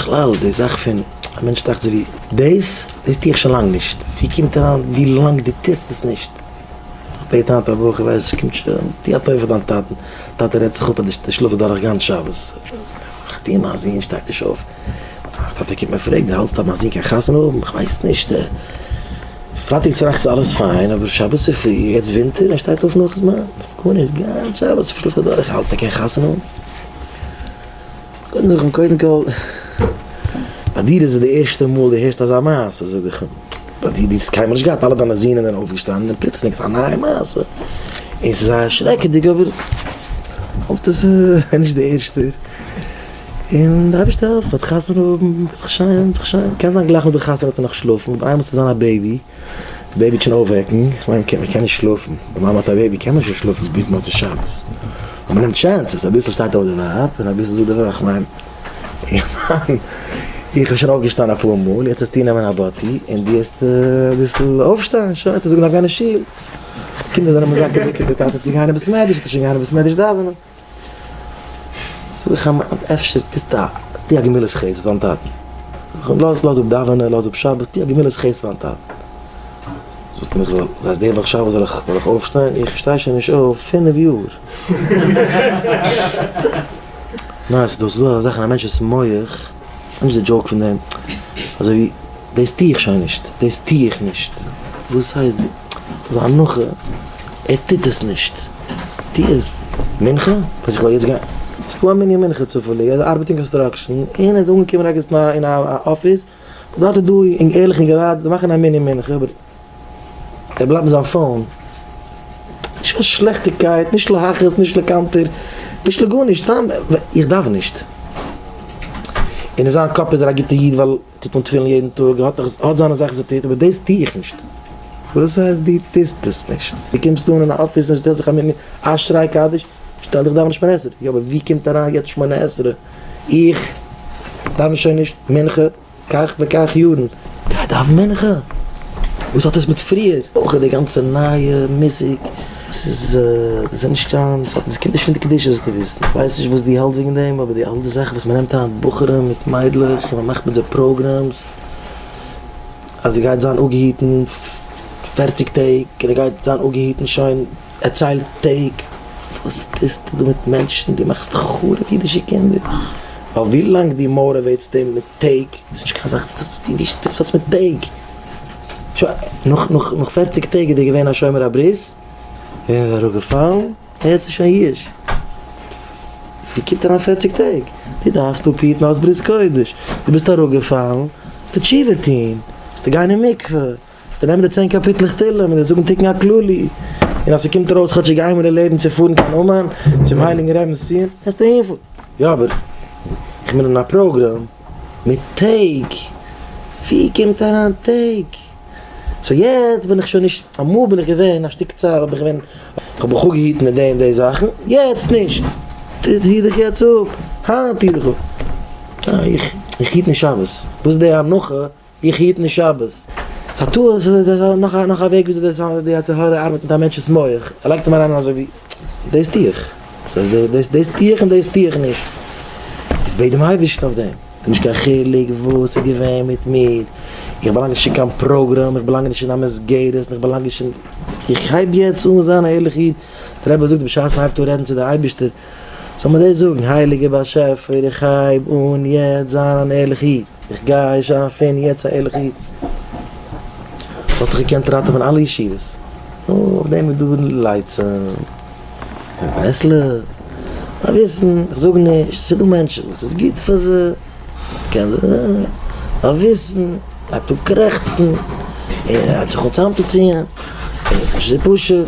בכלל די זאך פון א מענטש דאכט זיך ווי דאס דאס טו איך שוין לאנג נישט ווי קומט אריין ווי לאנג דו טוסט עס נישט איך בעט היינט א בחור ווייס איך קומט שוין טו א טובה פאר דיין טאטן טאטע רעדט זיך אפ אז דו שלאפסט דורך גאנץ שבת איך טו מיין זון שטייט נישט אויף טאטע קומט מיר פרעגן דו האלטסט אז מיין זון קען חתונה האבן איך ווייס נישט פרייטאג צו נאכטס אלעס פיין אבער שבת צופרי יעצט ווינטער ער שטייט אויף נאך זמן גארנישט גאנץ שבת שלאפט ער דורך איך האלט ער קען חתונה האבן. קודם זאג איך אים קודם כל, ביי דיר איז עס די ערשטע מאל דו הערסט אזא מעשה, זאג איך אים, ביי דיר, דו האסט קיינמאל נישט געהאט, אלע דיינע זוהנען זענען אויפגעשטאנען, און פלוצלינג איז א נייע מעשה, און ס'איז זייער שרעקעדיג, אבער איך האף דאס איז נישט די ערשטע, און די אייבערשטער העלפט, מ'וועט חתונה האבן, וועט זיך שיין, וועט זיך שיין, קען זיין גלייך נאך די חתונה וועט ער נאך שלאפן, און איינמאל ס'וועט זיין א בעיבי. די בעיביטשען אויפוועקן, כ'מיין כ'קען מ'קען נישט שלאפן, די מאמע האט א בעיבי קען מען שוין שלאפן ביז מוצאי שבת, און מ'נעמט טשענסעס, אביסל שטייט אויף די ווייב און אביסל זאגט די ווייב, כ'מיין איך בין שוין אויפגעשטאנען אפאר מאל, יעצט האסטו נעמען א באטי און די האסט אביסל אויפשטיין, שוין האט ער זאגן גיין אין שול, קינדער זענען מזכה דיקע די טאטע צו גיין אין בית מדרש, האט ער שוין געהאט אין בית מדרש דאווענען. זאג איך אים אפשר טוסטו א טו א גמילות חסד פאר דיין טאטן, לאז לאז אפ דאווענען לאז אפ שבת טו א גמילות חסד פאר דיין טאטן, זאגט ער איך זאל אז די וואך שבת זאל איך זאל איך אויפשטיין, איך שטיי שוין נישט אויף פינף יאר. ניין ס'איז דא ס'איז דא אזא זאך אין א מענטש'ס מח. וואס איז די דזשאוק פון דעם? אזוי ווי דאס טו איך שוין נישט, דאס טו איך נישט, וואס הייסט דאס איז א הנחה, ער טוט עס נישט, טו עס, מנחה? אז איך זאל יעצט גיין, ס'איז דא א מנין מנחה צופעליג, ער ארבעט אין קאנסטראקשען, און ער איז אנגעקומען ערגעץ אין א אפיס, דארט איז דא ערליכע געלייט וואס מאכן א מנין מנחה, ער בלייבט מיט זיין פאון, נישט קיין שלעכטיגקייט, נישט להכעיס, נישט לקנטר, נישט לגארנישט, סתם איך דארף נישט. און אין זיין קאפ איז ער א גוטע איד ווייל ער טוט אן תפילין יעדן טאג, ער האט דאך, ער האט זיינע זאכן וואס ער טוט, אבער דאס טו איך נישט. וואס הייסט דו טוסט עס נישט? דו קומסט אן אין א אפיס און שטעלסט זיך א מין אשריי קדיש, שטעל דיך דאווענען שמונה עשרה, יא אבער וואו קומט אריין יעצט שמונה עשרה? איך דאווען שוין נישט מנחה. כך וכך יארן. גיי דאוון מנחה! וואס האט עס מיט פריער? אויך איז די גאנצע נייע מוזיק, ס'איז איז נישט קיין, ס'האט ס'קומט נישט פון די קדושה זאלסטו וויסן, איך ווייס נישט וואס דו האלט וועגן דעם, אבער די אלע זאכן וואס מ'נעמט היינט בחורים מיט מיידלעך און מ'מאכט מיט זיי פראגרעמס, אז ער גייט זיין אפגעהיטן פערציג טעג און ער גייט זיין אפגעהיטן שוין. ער ציילט טעג, וואס טוסטו דא מיט מענטשן? דו מאכסט חרוב אידישע קינדער? ווייל ווי לאנג דו מאוטיוועיטסט אים מיט טעג, איז נישט קיין זאך וואס ווי ווי וואס האט עס מיט טעג? שוין נאך נאך נאך פערציג טעג איז ער געווען א שומר הברית, און איז אראפגעפאלן, יעצט איז שוין יוש. ווי קומט אריין פערציג טעג? דו דארפסט אפהיטן אלס ברית קודש, דו ביסט אראפגעפאלן, זאלסטו תשובה טון, זאלסטו גיין אין מקווה. זאלסטו נעמען די צען קאפיטלעך תהלים און זיי זאגן תיקון הכללי, און אז ס'קומט ארויס כאטשיג איינמאל אין לעבן צו פארן קיין אומאן צום הייליגן רעבינ'ס ציון, וועסטו העלפן. יא אבער איך בין אין א פראגראם מיט טעג, ווי קומט אריין טעג? סאו יעצט בין איך שוין נישט, אמאל בין איך געווען א שטיק צייט האב איך געווען, איך האב בחור געהיטן די און די זאכן, יעצט נישט, טוט היט דיך יעצט אפ, היינט היט דיך אפ, איך היט נישט שבת, וואס איז די הנחה איך היט נישט שבת. ס'א טעות, נאך נאך א וועג וויאזוי די יצר הרע ארבעט מיט א מענטש'ס מח, ער לייגט אים אריין אזוי ווי, דאס טו איך, דאס דאס טו איך און דאס טו איך נישט. איז בעט דעם אייבערשטן אויף דעם. ס'נישט קיין חילוק וואס איז געווען מיט מיר, איך באלאנג נישט אין קיין פראגראם, איך באלאנג נישט אין א מסגרת, און איך באלאנג נישט אין, איך הייב יעצט אן זיין א ערליכע איד, דער רבי זאגט בשעת מ'הייבט אן רעדן צו די אייבערשטער, זאל מען דאס זאגן, הייליגער באשעפער, איך הייב אן יעצט זיין אן ערליכער איד, איך גיי זיין פון יעצט א ערליכער איד. האסט דאך געקענט ראטעווען אלע ישיבות, נו, אויף דעם איז דא לייצען און ברסלב. א וויסן, איך זאג נישט, ס'דא מענטשן וואס ס'איז גוט פאר זיי, א וויסן, הייבט אן קרעכצן, און הייבט זיך אן צוזאמצוציען, און עס איז נישט אזוי פשוט,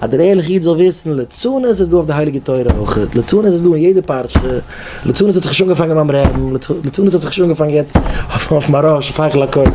אז דער ערליכע איד זאל וויסן ליצנות איז דא אויף די הייליגע תורה אויך, ליצנות איז דא אין יעדע פרשה, ליצנות האט זיך שוין אנגעפאנגען ביים רעבן, ליצנות האט זיך שוין אנגעפאנגען יעצט אויף מהרא ש, פייכל הקודש,